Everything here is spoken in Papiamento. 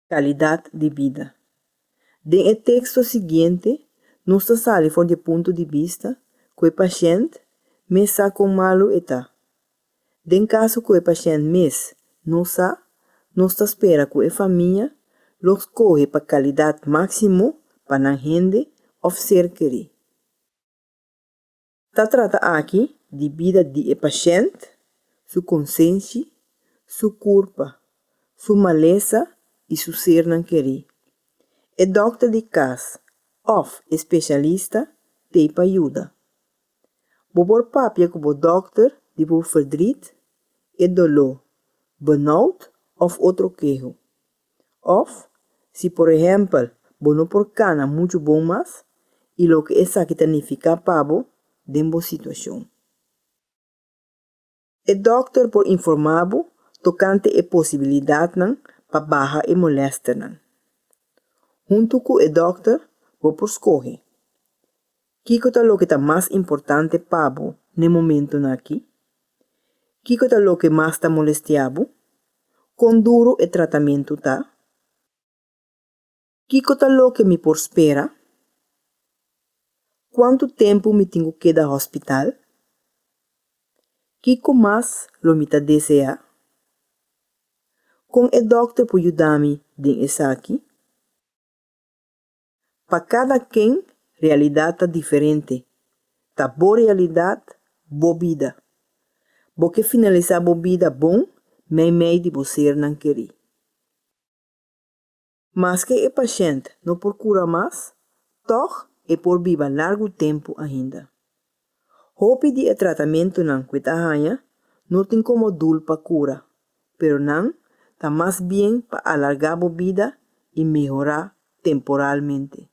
Kalidat di bida. Den e teksto siguiente nos ta sali for di e punto di bista ku e pashènt mes sa kon malu e ta. Den kaso ku e pashènt mes no sa, nos ta spera ku e famia lo skohe pa kalidat máksimo pa nan hende òf ser kerí. Ta trata aki di bida di e pashènt, su konsenshi, su kurpa, su malesa i su sernan kerí. E dòkter di kas òf e speshalista t'ei pa yuda. Bo por papia ku bo dòkter di bo fèrdrit, e doló, burnoutt òf otro keho. Òf, si por ehèmpel bo no por kana muchu bon mas i loke esaki ta nifiká pa bo den bo situashon. E dòkter por informá bo tokante e posibilidatnan pa baha e molèsternan. Huntu ku e dòkter bo por skohe. Kiko ta loke ta mas importante pa bo n'e momentunan akí? Kiko ta loke mas ta molestia bo? Kon duru e tratamentu ta? Kiko ta loke mi por spera? Kuantu tempu mi tin ku keda hòspital? Kiko mas lo mi ta deseá? Kon e dòkter por yuda mi den esaki? Pa kada ken, realidad ta diferente. Ta bo realidad, bo bida. Bo ke finalisa bo bida bon meimei di bo sernan keri. Maske e pashènt no por kura mas, tòg e por biba largu tempu ainda. Hopi di e tratamentunan ku e ta haña no tin komo dul pa kura, pero nan ta mas bien pa alargá bo bida i mehorá temporalmente.